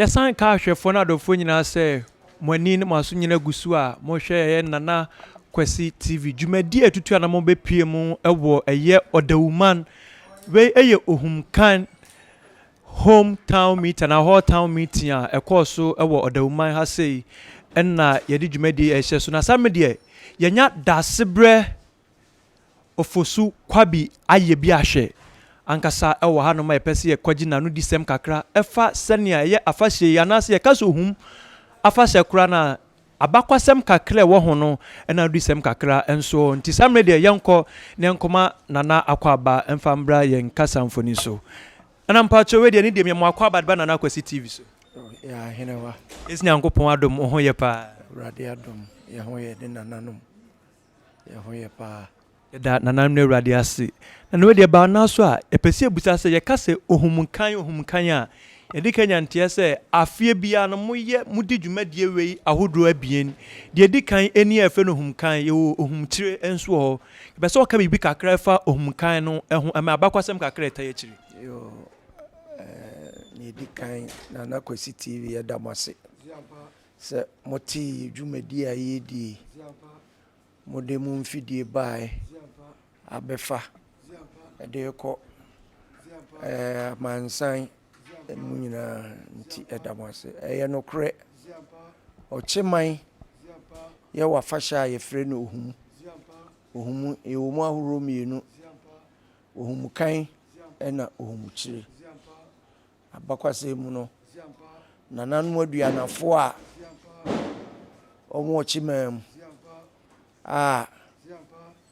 Yɛsan ka ahwɛfoɔ ne adɔfoɔ nyinaa sɛ mo ani ne mo aso nyina gu so a mohwɛ ɛyɛ Nana Kwasi TV. Dwumadie a ɛtutu a na mobɛpue mu wɔ ɛyɛ Ɔdawuman. Wei yɛ Ohumkan Home Town Meeting anaa Hall Town Meeting a ɛkɔɔ so wɔ Ɔdawu-man ha sei na yɛde dwumadie yi rehyɛ so. Na saa mmerɛ deɛ yɛanya Daasebrɛ Ofosu Kwabi ayɛ bi ahwɛ ankasa wɔ ha nom a yɛpɛ sɛ yɛkɔgye n'ano di sɛm kakra ɛfa sɛnea ɛyɛ afahyɛ yi anaasɛ yɛka sɛ Ohum afahyɛ koraa no a Abakɔsɛm kakra a ɛwɔ ho no na aduyisɛm kakra nso wɔ ho, nti saa mmerɛ yi deɛ yɛnkɔ na yɛnkɔma Nana Akwaaba mfa mbra yɛn kasa mfoni so. Nana mpakyɛw wei deɛ ne deɛ meyɛ mo Akwaaba de ba Nana Akwasi TV so. Yɛ Ahenewa. Yɛsi Nyankopɔn adom wo ho yɛ paa. Awurade adom yɛ ho yɛ ne nananom. yɛn ho yɛ paa. Yɛda Nananom no Awurade ase. Na nea ɔde baa no ara so a, yɛpɛ sɛ yɛbisa sɛ, yɛka sɛ ohumkan ohumkan a, yɛde ka nya nteɛ sɛ, afeɛ biara no moyɛ, modi dwumadie wei ahodoɔ abien. Deɛ ɛdi kan ɛni a yɛfrɛ no ohumkan, yɛwɔ ohumkyire nso wɔ hɔ. Yɛpɛ sɛ woka biribi kakra a ɛfa ohumkan no ho, ɛma abakɔsɛm kakra a ɛtai akyire. Yo, eh, nea ɛdi kan, Nana Kwasi TV, yɛda mo ase. Sɛ mote yɛ dwumadie a yɛredi yi, mode mo mfidie baeɛ abɛfa de rekɔ amansan mu nyinaa nti ɛda mo ase. Ɛyɛ nokorɛ, ɔkyeman yɛ wafahyɛ a yɛfrɛ no ohumu. Ohumu ɛwɔ mu ahoroɔ mmienu, ohumukan ɛna ohumukyire. Abakɔsɛm mu no, nananom aduannafoɔ a wɔwɔ kyemaa mu a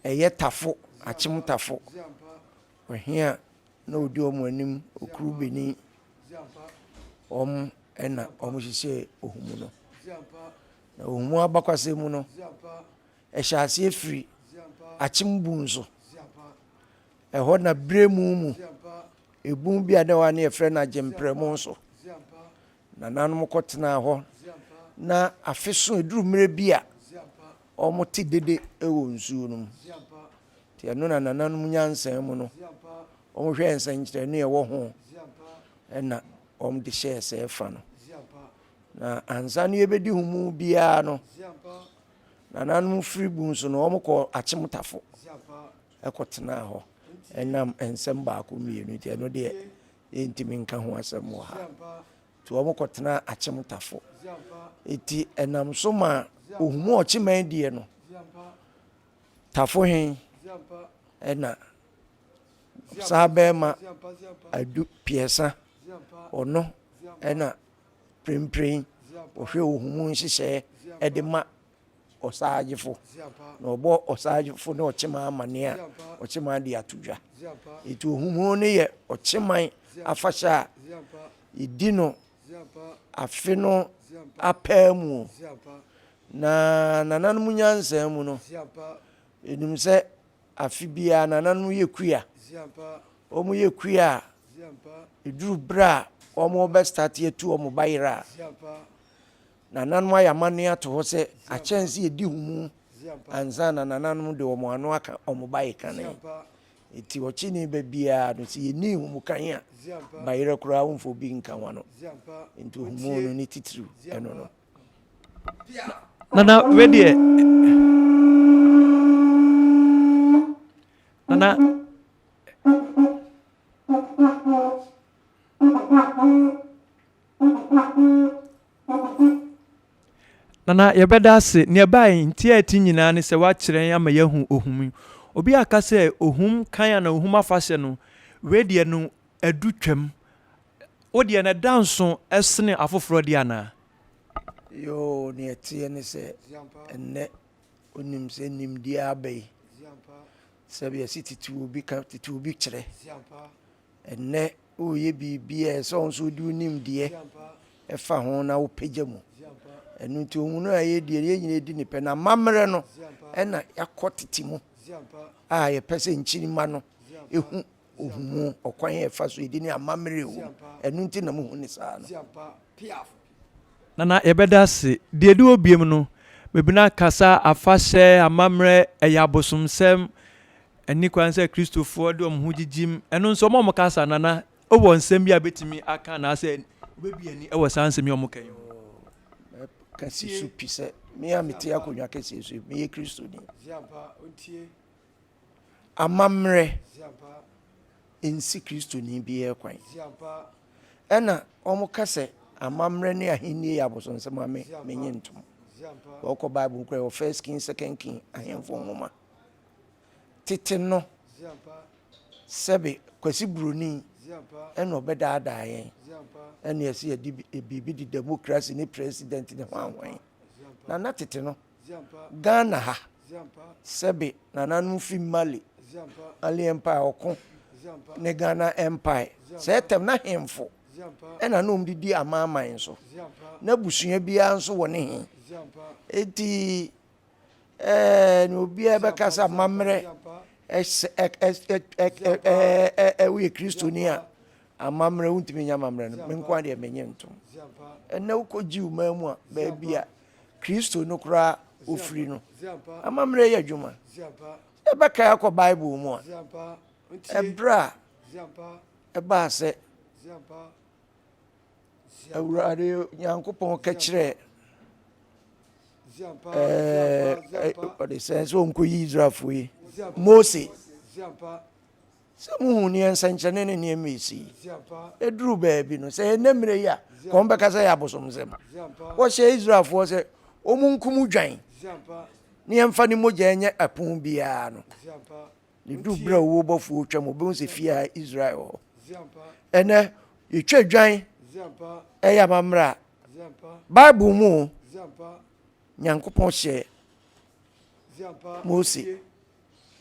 ɛyɛ tafo, akyem tafo, ɔhe a na ɔdi wɔn anim, ɔkuru beni, wɔn na wɔhyehyɛ Ohumu no. Na Ohumu abakɔsɛm mu no, ɛhyɛ aseɛ firi akyem bun so. Ɛhɔ na berɛ mu mu. Ebun bi a na ɛwɔ ha no yɛfrɛ no Agyemprɛmu nso. Nananom kɔtenaa hɔ na afe so ɛduru mmerɛ bi a wɔte dede wɔ nsuo no mu. Nti ɛno na nananom nyansa mu no wɔhwɛɛ nsɛnkyerɛnne a ɛwɔ ho ɛna wɔde hyɛɛ sɛ fa no. Na ansa no yɛbɛdi ho mu biara no nananom firi bun so no wɔkɔɔ Akyemtafo. kɔtenaa hɔ nam nsɛm baako mmienu nti, ɛno deɛ yɛntumi nka ho asɛm wɔ ha. Nti wɔn kɔtenaa Akyemtafo. Nti ɛnam so ma Ohumu Ɔkyeman deɛ no, Tafo hen ɛna saa bɛrima Adu Piɛsa ɔno ɛna Prempren ɔhwɛ Ohumu nhyehyɛɛ ɛde ma ɔsagyefo, na ɔbɔ ɔsagyefo ne ɔkyeman amanneɛ a, ɔkyeman de ato dwa. Enti ohunhun no yɛ ɔkyeman afahyɛ a yedi no afe no apaa mu. Na nananom nyansa mu no, yenim sɛ afe biara nananom yɛ kuya. Wɔyɛ kuya a, eduru bere a wɔrebɛstarte atu wɔn bayerɛ a, Nananom ayɛ amanneɛ ato hɔ sɛ akyɛnse a edi ho mu ansa na nananom de wɔn ano aka wɔn bae kane. Enti ɔkyene ba biara no, sɛ yenni nhumu kan a, bayerɛ koraa womfa obi nka ho ano. Enti nhumu no ne titiriw ɛno no. Nana wei deɛ Nana Nana yɛbɛda ase. Nea ɛbaa yi nti a ɛte nyinaa ne sɛ woakyerɛ yɛn ama yɛahu ohum yi. Obi aka sɛ ohum kan anaa ohum afahyɛ no, wei deɛ no adu twam. Wo deɛ no ɛda nso ɛsene afoforɔ deɛ anaa? Yoo, nea ɛteɛ ne sɛ ɛnnɛ wonim sɛ nimdeɛ aba yi, sɛdeɛ yɛse tete obi ka, tete obi kyerɛ. Ɛnnɛ woreyɛ biribi a ɛsɛ sɛ wo nso wode wo nimdeɛ ɛfa ho na wopagya mu. Ɛno nti ohunu a ɛyɛ deɛ yɛn nyinaa di ne pɛ na amammerɛ no ɛna yɛakɔ tete mu a yɛpɛ sɛ nkyirima no ɛhu ohumu ɔkwan a ɛfa so ɛdi ne amammerɛ ɛwɔ mu. Ɛno nti na muhu ne saa no. Nana yɛbɛda ase. Deɛ ɛdi hɔ biom no, Mebina kasa afahyɛ, amammerɛ, ɛyɛ abosomsɛm, ɛnni kwan sɛ Kristofoɔ de wɔn ho gyigyim. Ɛno nso wɔn a wɔka saa, Nana, wowɔ nsɛm bi a bɛtumi aka anaasɛ wobɛbue ani wɔ saa nsɛm yi a wɔka yi ho? Kɛseɛ so pi sɛ me a mete akonnwa kɛseɛ so yi, meyɛ Kristoni. amammerɛ nsi Kristoni biara kwan. Ɛna wɔka sɛ amammerɛ ne ahenni yɛ abosonsɛm a me menye ntom. Wɔkɔ Bible mu kora wɔ First King, Second King ahemfo nwoma. Tete no, sɛbe Kwasi Buroni ɛna ɔbɛdaadaa yɛn ɛne ɛsɛ yɛde biribi de demokrasi ne president ne hwanhwan. Na na tete no Ghana ha, sɛbe nananom fi Mali, Mali Empire, ɔko ne Ghana Empire, sɛɛ tɛm na hemfo ɛna na wɔde di amanaman so, na abusua biara nso wɔ ne he. Enti ɛɛ ne obiara bɛka sɛ amammerɛ ɛsɛ ɛ ɛ ɛ ɛ ɛ ɛ woyɛ kristoni a amammerɛ wontumi nyɛ amammerɛ no me nko ara deɛ menyɛ ntom. Ɛnɛ wokɔ Jew man mu a baabi a Kristo no koraa ofiri no. Amammerɛ yi adwuma, yɛbɛkae akɔ Bible mu a, ɛberɛ a ɛbaa sɛ Awurade Nyankopɔn ka kyerɛɛ ɛɛ ɔde sɛ sɛ ɔnkɔyi Israelfoɔ yi Mose Sɛ muhu nea nsɛnkyerɛnne ne nneɛma a esi yi duru baabi no, sɛ ɛnnɛ mmere yi a, nka wɔbɛka sɛ ɛyɛ abosomsɛm. Wɔhyɛɛ Israelfoɔ sɛ wɔnkum odwan na yɛmfa ne mogya nyɛ apon biara no. Ne duu bere a owuo bɔfoɔ retwa mu, obehu sɛ fie a Israel wɔ hɔ. Ɛnnɛ, yɛtwa odwan, ɛyɛ amammerɛ a Bible mu o, Nyankopɔn hyɛɛ Mose.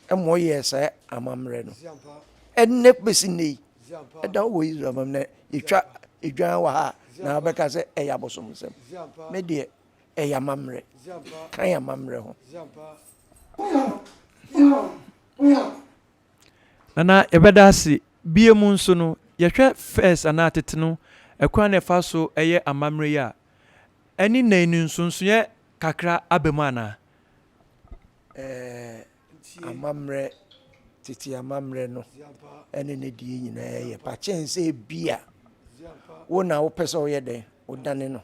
ma ɔyɛɛ saa amammerɛ no. Ɛnnɛ bɛsi nnɛ yi, ɛda wɔ Israel mam na yɛtwa dwan wɔ ha a, na wobɛka sɛ ɛyɛ abosomsɛm. Me deɛ, ɛyɛ amammerɛ. Ka yɛn amammerɛ ho. Anaa yɛbɛda ase. Bio mu nso no, yɛhwɛ First anaa Tete no kwan na ɛfa so yɛ amammerɛ yi a, ɛne nnɛ yi no nsonsonoeɛ kakra aba mu anaa? ɛɛ amammerɛ tete amammerɛ no ɛne ne deɛ nyinaa yɛ pa kyɛn sɛ bi a wo na wopɛ sɛ woyɛ dɛn wodane no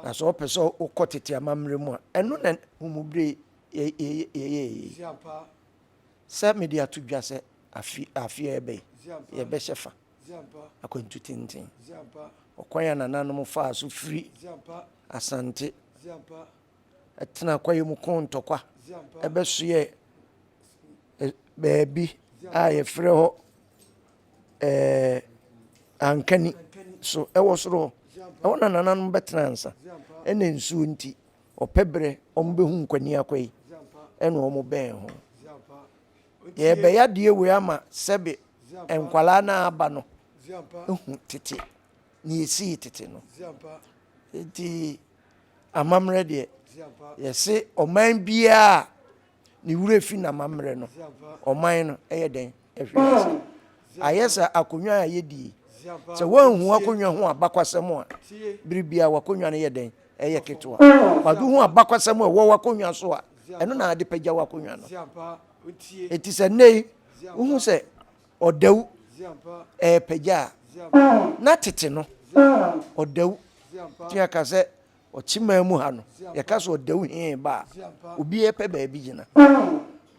na sɛ wopɛ sɛ wokɔ tete amammerɛ mu a ɛno na homubere yɛyɛ yi sɛ mede ato dwa sɛ afi afi a ɛbɛyi yɛbɛhyɛ fa akwantu tenten ɔkwan a nananom faa so firi asante tsenaa kwae mu kõ ntokwa bɛsoɛɛ e beebi a wɔfrɛ hɔ ɛɛɛ Ankani so wɔ sor hɔ. Hɔ na Nananom bɛtsenaa ansa. Nna nsuo ntsi, wɔpɛ berɛ wɔbɛhu Nkwani akwa yi na wɔbɛɛn ho. Yɛrebɛyɛ adeɛ wei ama sɛbe nkwadaa no a aba no ahu tete deɛ ɛsii tete no. Nti. Amammerɛ deɛ, yɛse ɔman biara a ne werɛ fi n'amammerɛ no, ɔman no yɛ dɛn? Ɛhwe ase. Ayɛ sɛ akonnwa a yɛdie. Sɛ woanhu akonnwa ho abakwasɛm a, bere biara w'akonnwa no yɛ dɛn? Ɛyɛ ketewa. Kwadu ho abakwasɛm a ɛwɔ w'akonnwa so a, ɛno na ade pagya w'akonnwa no. Enti sɛ nnɛ yi wohu sɛ Ɔdawu repagya a, na tete no, ɔdawu tumi aka sɛ ɔkyemaa mu ha no, yɛka sɛ ɔdawu hee ba a, obi repɛ baabi gyina.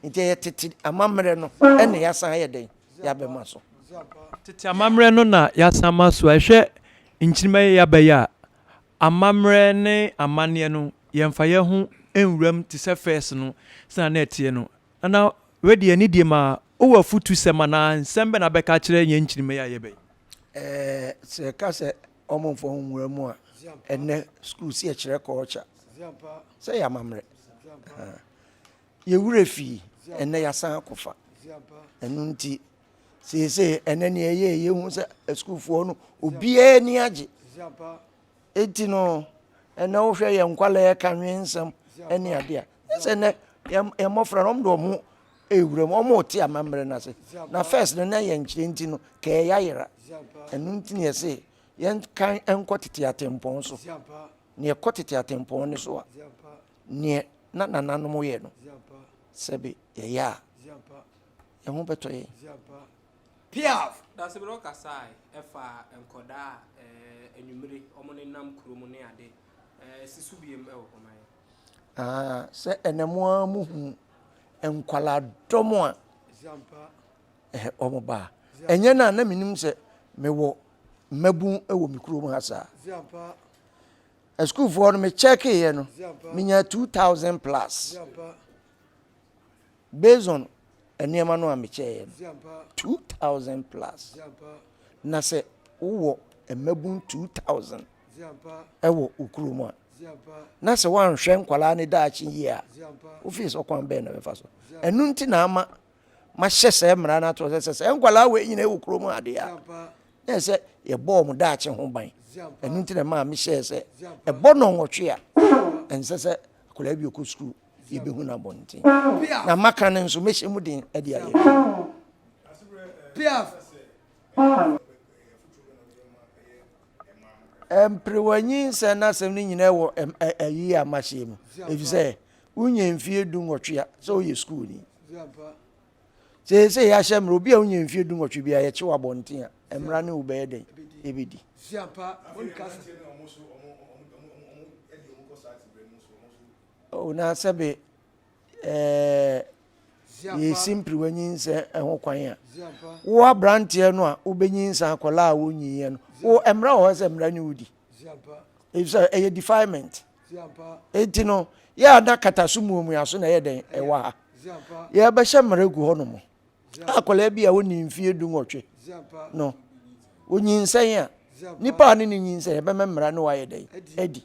Nti ɛyɛ tete amammerɛ no na yɛasan ayɛ dɛn? Yɛabɛma so. Tete amammerɛ no na yɛasan ama so. Hwɛ nkyirimma yi a yɛaba yi a, amammerɛ ne amanneɛ no, yɛmfa yɛn ho nwuram te sɛ first no sɛnea na ɛteɛ no. Ana w'adi anidie ma wo wɔ afutu sɛm anaa nsɛm bɛ na bɛka akyerɛ yɛn nkyiri mɛyɛ ayɛ bɛ yi? Ɛɛ sɛ yɛka sɛ wɔn mfa wɔn nwura mu a, ɛnnɛ sukuu si ɛkyerɛ kɔɔkya sɛ yɛ amammerɛ. Yɛ wura fii ɛnnɛ yɛasan akɔ fa. Ɛno nti seesei ɛnnɛ neɛ ɛyɛ yɛhu sɛ asukuufoɔ no obiara ni agye Enti no, ɛnɛ wohwɛ yɛn nkwadaa yɛka nwensɛm ne adeɛ a, nyɛ sɛ nnɛ yɛn mmɔfra no wɔn de wɔn ewura mu wɔn rete amammerɛ no ase na first no na yɛn nkyerɛ nti no kɛɛ yɛayera ɛno nti na yɛse yɛnkan nkɔ tete atempɔn so na yɛkɔ tete atempɔn no so a neɛ na nananom yɛ no sɛbe yɛyɛ a yɛn ho bɛtɔ yɛn Piaf. Dasebere ɔkasae faa nkɔdaa a anwummere wɔnenam kurom ne ade. Si so biom wɔ hɔ ma yɛn. Ah, sɛ ɛnɛ mo ara mo hu nkwadaa dɔm a wɔn ba a. Ɛnyɛ na na menim sɛ mewɔ mmabun wɔ me kurom ha saa. Asukuufoɔ no mekyɛkeeɛ no, menyaa 2000 plus. Based on nneɛma no a me kyɛeɛ no, two thousand plus. Na sɛ wo wɔ mmabun two thousand ɛwɔ wo kuro mu a, na sɛ woanhwɛ nkwadaa ne daakye yie a, wo fie sɛ ɔkwan bɛn na bɛfa so. Ɛno nti na ama mahyɛ sɛ mmara no ato sɛ sɛ sɛ nkwadaa wɔ nyina ɛwɔ kuro mu adeɛ a, na ɛsɛ yɛbɔ wɔn daakye ho ban. Ɛno nti na maa mehyɛɛ sɛ ɛbɔ nɔnwɔtwe a ɛnsɛ sɛ akwadaa bi ɔkɔ sukuu. yɛbɛhu no abɔnten. Na maka no nso, mɛhyɛ mu den de ayɛ adwuma. Mperewanyi nsɛm n'asɛm no nyinaa wɔ ayi a mahyɛ mu, ɛfiri sɛ wonya mfie du nwɔtwe a sɛ woyɛ sukuuni. Seesei yɛahyɛ mmerɛ obi a wonya mfie du nwɔtwe bi a yɛkye wɔ abɔnten a mmara ne wo bɛyɛ dɛn ɛbɛdi. Oh na sɛ be eh, yɛ simpiri w'anyinsɛ ho kwan a wo abranteɛ no a wobɛnyinsa akɔla a wonyiiɛ no wo mmara wɔ hɔ sɛ mmara ne wodi ɛfisɛ ɛyɛ defilement enti no yɛ a na kata so muamua so na ɛyɛ dɛn ɛwɔ ha yɛbɛhyɛ mmara gu hɔ no mu akɔla bi a wonni mfie du nwɔtwe no onyinsɛn a nipa a ne ne nyinsɛn ɛbɛma mmara ne wayɛ dɛn adi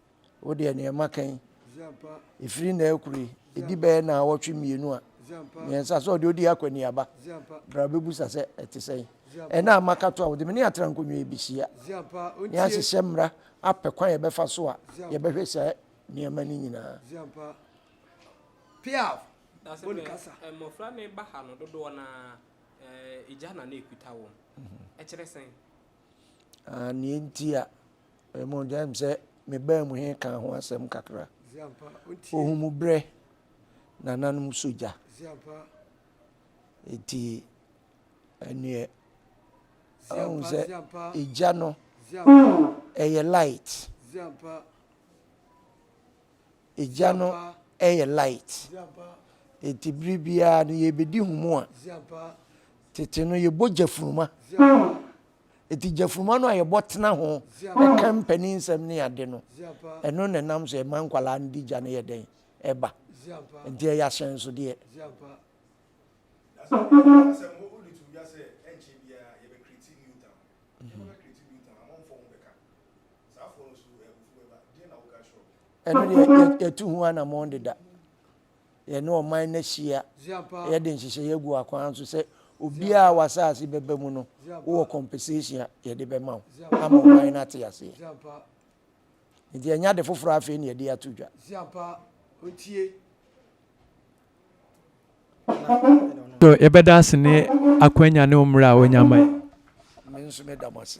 Wo deɛ neɛ maka yi, ɛfiri na ɛkoro yi, ɛdi bɛyɛ na awɔtwe mmienu a mmiɛnsa sɛ ɔde ɔdi akɔniaba. Bra bɛbusa sɛ ɛte sɛn. Ɛna a maka to a wode me ne atra nkonnwa yi bɛhyia ne ahyehyɛ mmara apɛ kwan yɛbɛfa so a yɛbɛhwɛ saa nneɛma no nyinaa. Piaf. Na sɛ eh, mmɔfra no ba ha no dodoɔ no ara eh, agya na na ɛkuta wɔn. Mhm. Ɛkyerɛ sɛn? Nea enti a ɛmu gya mu sɛ me baa mu he ka ho asɛm kakra. Ohun mu brɛ nananom so gya. Eti ɛneɛ ahun sɛ egya no ɛyɛ light. Egya no yɛ light, ntsi ber biara no yeebedi hom a, tsetse no yɛbɔ gyafunuma. Ntsi gyafunuma no a yɛbɔ tsena ho ka mpaninnsɛm nye adze no, no na nam so ma nkwadaa no dze gya no yɛ dɛn? Ba. Ntsi ɔyɛ ahyɛnsodeɛ. ɛno deɛ yɛtu ho anammɔn deda yɛne ɔman no ahyia yɛde nhyehyɛeɛ agu akwan so sɛ obiara a w'asase bɛba mu no wowɔ compensation a yɛde bɛma wo ama ɔman no ate aseɛ nti ɛnyɛ ade foforɔ afei ne yɛde ato dwa So yɛbɛda ase ne akwanya ne mmerɛ a ɔnya ma yɛ. Me nso meda mo ase.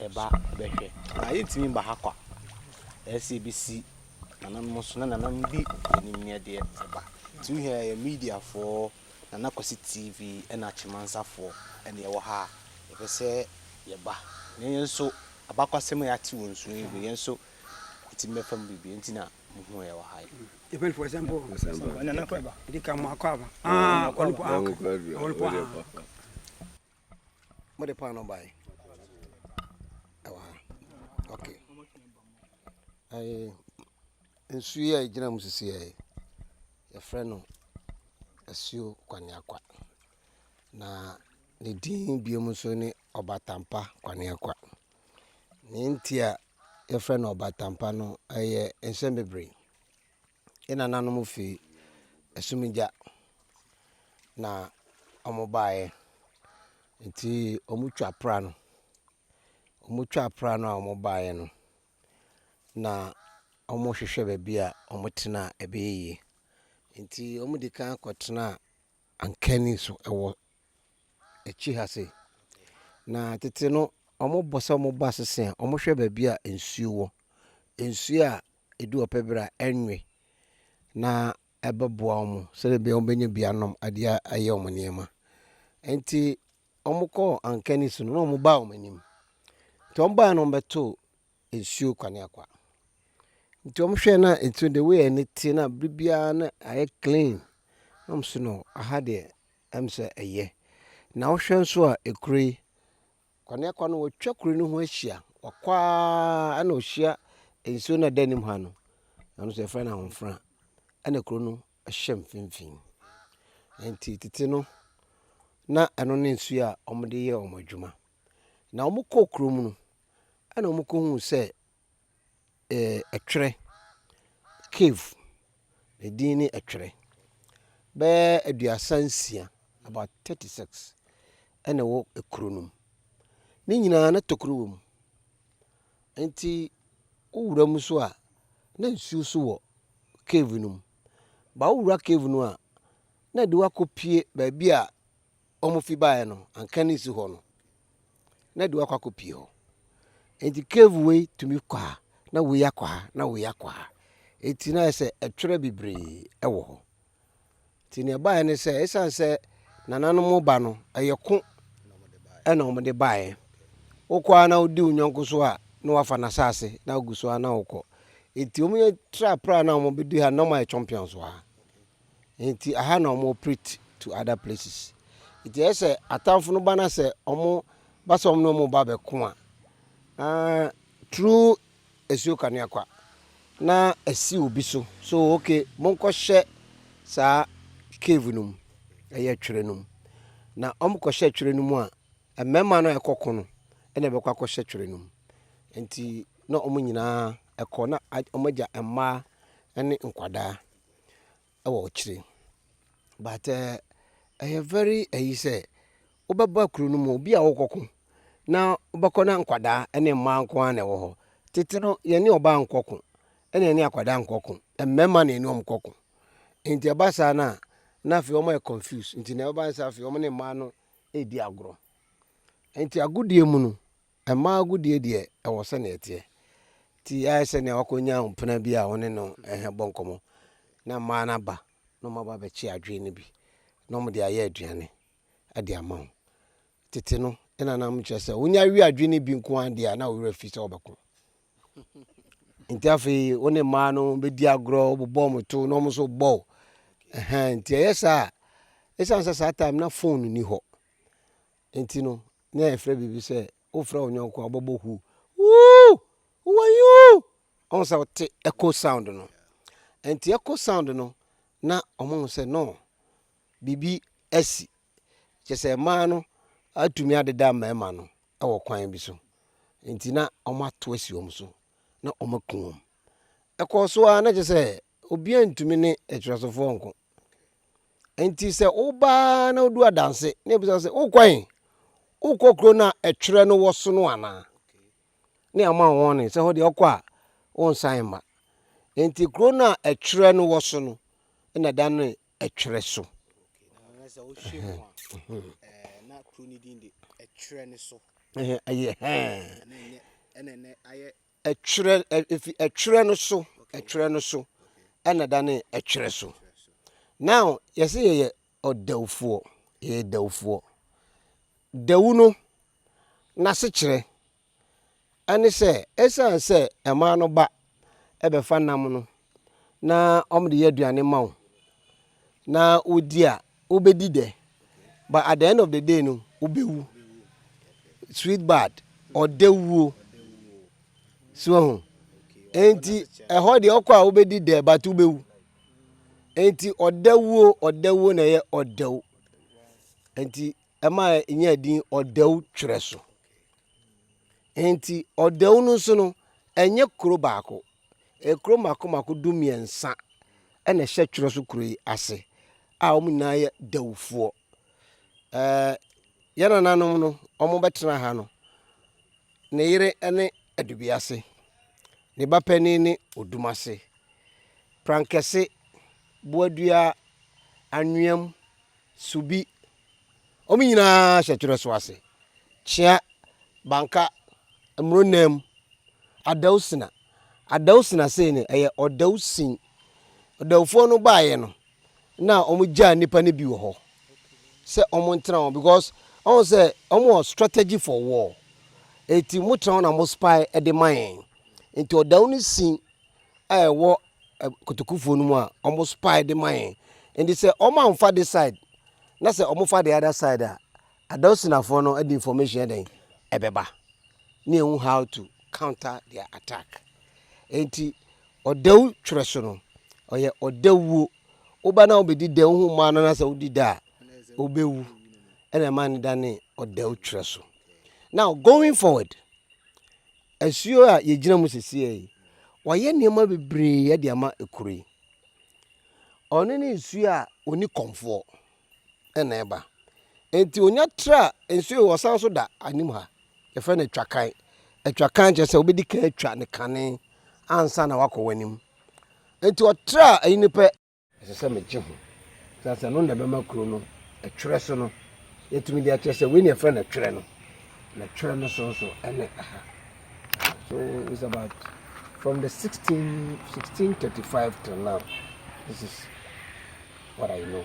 ɛba bɛhwɛ. Na yɛntumi mma ha kwa. Ɛsɛ sɛ yɛbɛsi nananom so na nananom bi anim nyɛ deɛ ɛba. Nti wohia yɛ mediafoɔ, Nana Kwasi TV ɛna Akyɛmansafoɔ ɛne ɛwɔ ha a, yɛpɛ sɛ yɛba. Na yɛn nso abakwasɛm a yɛate wɔ nsuo yi ho, yɛn nso yɛtumi bɛfa mu biribi. Ɛnti na mohuu yɛwɔ ha yi. Depend for example. Nana kɔ ɛba. Ɛdi ka mo akɔ aba. Ah, ɔno po ah. Ɔno po ah. mo de paano bae ɛwɔ ha ok ɛɛ nsu yi a egyina mu sisi yɛ yɛfrɛ no asuo kwaneakwa na ne din biom nso ne ɔbatampa kwaneakwa nea nti a yɛfrɛ no ɔbatampa no ɛyɛ nsɛm bebree. Yɛn nananom firi asumgya na wɔbaeɛ. Nti wɔtwa pra no. Wɔtwa pra no a wɔbaeɛ no, na wɔhwehwɛ baabi a wɔtena a ɛbɛyɛ yie. Nti wɔde kan kɔtenaa ankani so wɔ akyiri ha sei. Na tete no, wɔbɔ sɛ wɔba sese a, wɔhwɛ baabi a nsuo wɔ. Nsuo a edu ɔpɛ ber a ɛnnwe na ɛbɛboa wɔn sɛdɛ bia wɔbɛnya bi anom ade ayɛ wɔn nneɛma. Ntsi wɔkɔɔ anka ne su no na wɔbaa wɔn enyim. Ntsi wɔbae no wɔbɛtoo nsuo kwaneakwa. Ntsi wɔhwɛɛ na nsuo no the way a ani tse na aber biara na ayɛ clean na wɔse no aha deɛ ɛm sɛ ɛyɛ. Na wohwɛ nso a ekuro yi Kɔ ne kɔ no wɔtwa kuro no ho ahyia wɔkɔ ara na ɔhyia nsuo no ɛda anim ha no ɛno nso yɛfrɛ no ahofra ɛna kuro no ɛhyɛ mfimfini nti tete no na ɛno ne nsuo a wɔde yɛ wɔn adwuma na wɔkɔ kuro mu no ɛna wɔkɔhuu sɛ Ɛtwerɛ, cave, ne din ne Ɛtwerɛ. Bɛyɛ aduasa nsia, about thirty six, ɛna ɛwɔ kuro no mu. Ne nyinaa na tokuro wɔ mu. Nti wowura mu nso a, na nsuo nso wɔ cave no mu. But wowura cave no a, na ɛde wo akɔpue baabi a. wɔfi baeɛ no anka ne nsi hɔ no na de wakɔ akɔpie hɔ nti cave wei tumi kɔ ha na wei akɔ ha na wei akɔ ha nti na ayɛ sɛ ɛtwerɛ bebree wɔ hɔ nti nea ɛbaeɛ ne sɛ ɛsiane sɛ nananom ba no ɛyɛ ko ɛna wɔde baeɛ wokɔ a na wodi wo nyɔnko so a na wafa n'asase na wogu so a na wokɔ nti wɔn yɛ trapra na wɔbɛdi ha na wɔayɛ champions wɔ ha nti aha na ɔmo operate to other places nti ɛyɛ sɛ atamfo no ba na sɛ ɔmo ba sɛ ɔmo na ɔmo ba bɛko a uh, through esuo kanea kwa na esi obi so so okay monkɔ hyɛ saa cave no mu ɛyɛ twere no mu na ɔmo kɔ hyɛ twere no mu a mmarima no a ɛkɔ ko no ɛna ɛbɛkɔ akɔ hyɛ twere no mu nti na ɔmo nyinaa ɛkɔ na ɔmo agya mmaa ɛne nkwadaa. wɔ akyire but ɛyɛ eh, very ayi sɛ wobɛba kuro no mu obi a wokɔko na wobɛkɔ na nkwadaa ne mmaa nko ara na ɛwɔ hɔ tete no yɛne ɔbaa nkɔko ɛna yɛne akwadaa nkɔko mmarima na yɛne wɔn kɔko nti ɛba saa no a na afei wɔn yɛ confuse nti na ɛba saa afei wɔn ne mmaa no redi agorɔ nti agodie mu no Mmaa agodie deɛ ɛwɔ sɛnea ɛteɛ. Nti ayɛ sɛ nea wakɔnya mpena bi a ɔne no ɛhɛ bɔ nkɔmmɔ na mmaa no aba na wɔn aba abɛkye adwee no bi na wɔn de ayɛ aduane de ama wo. Tete no ɛna na wɔn kyerɛ sɛ wonya we adwee no bi nko ara deɛ a na wo werɛ fi sɛ wɔbɛko. Nti afei wo ne mmaa no bɛdi agorɔ wobobɔ wɔn to na wɔn nso bɔ wo. Ɛhɛn nti ɛyɛ saa a ɛsiane sɛ saa time na phone ni hɔ Nti no, na yɛfrɛ biribi sɛ wofrɛ wo nyɔnko a wobɛbɔ hu wuu wowɔ yi wuu ɔhu sɛ wote echo sound no nti echo sound no na ɔmohu sɛ no biribi asi kyɛ sɛ mmaa no atumi adeda mmarima no wɔ kwan bi so nti na ɔmato asi wɔn so na ɔmaku wɔn ɛkɔɔ so ara na kyɛ sɛ obiara ntumi ne atwerɛsofoɔ nko nti sɛ woba na wodu adanse na ebisa sɛ wokɔ he wokɔ kuro no a ɛtwerɛ no wɔ so no anaa ne ama wɔn ne sɛ hɔ deɛ ɔkɔ a wɔnsan mma nti kuro no a ɛtwerɛ no wɔ so no na da no ɛtwerɛ so Ɛtwerɛ, ɛfi ɛtwerɛ no so, ɛtwerɛ no so, ɛna dane ɛtwerɛ so. Now, yɛsɛ yɛyɛ ɔdawufoɔ, yɛyɛ dawufoɔ. Dawu no, n'asekyerɛ, ɛne sɛ, ɛsiane sɛ ɛmaa no ba ɛbɛfa nam no na wɔde yɛ aduane ma wo na wodi a wobɛdi dɛ but at the end of the day no wobɛwu sweet bad ɔdɛ wuo so ho enti ɛhɔ deɛ ɔkɔ a wobɛdi dɛ but wobɛwu enti ɔdɛ wuo ɔdɛ wuo na ɛyɛ ɔdɛw enti ɛma ɛnya din ɔdɛw twerɛ so. Enti ɔdɛw no nso no, ɛnyɛ kuro baako. Ekuro mako mako du mmiɛnsa na ɛhyɛ twerɛ so kuro yi ase a wɔn nyinaa yɛ dɛwfoɔ. Ɛɛ yɛn nananom no, wɔbɛtena ha no, ne yere ne Adubiase, ne ba panin ne Odumase, Prankɛse, Boadua, Anweam, Subi, Wɔn nyinaa hyɛ twerɛ so ase. Kyea, Banka, Mmoronnaa mu, Adausina. Adausina sei no, ɛyɛ Ɔdawusin. Ɔdawufoɔ no baeɛ no, na wɔgyaa nnipa no bi wɔ hɔ sɛ wɔntena hɔ because wɔn sɛ wɔn wɔ strategy for war. Eti motena hɔ na mo spy de ma yɛn. Nti ɔdawu no sin a ɛwɔ kotokufoɔ no mu a wɔn spae de ma yɛn nti sɛ wɔn anfa de side na sɛ wɔn fa de ada side a adosinafoɔ no de information ɛdɛn ɛbɛba ne ehu how to counter their attack nti ɔdɛw twerɛ so no ɔyɛ ɔdɛwuo woba na wobɛdi dɛw ho maa no na sɛ wodi da a wobɛwu ɛna ɛma ne da ne ɔdɛw twerɛ so now going forward. Asuo a yɛgyina mu seseɛ yi, wɔayɛ nneɛma bebree de ama kuro yi. Ɔno ne nsuo a ɔni kɔmfoɔ na ɛba. Nti ɔnya tra nsuo yi ɔsan so da anim ha. Yɛfrɛ no atwakan. Atwakan kyerɛ sɛ wobɛdi kan atwa ne kane ansa na wakɔ w'anim. Nti ɔtra ayi no pɛ. Ɛsɛ sɛ megye ho. Sɛ sɛ no na ɛbɛma kuro no ɛtwerɛ so no yɛtumi de akyerɛ sɛ wei na ɛfrɛ no ɛtwerɛ no na ɛtwerɛ no so nso ɛne aha so it's about from the 16 1635 till now this is what I know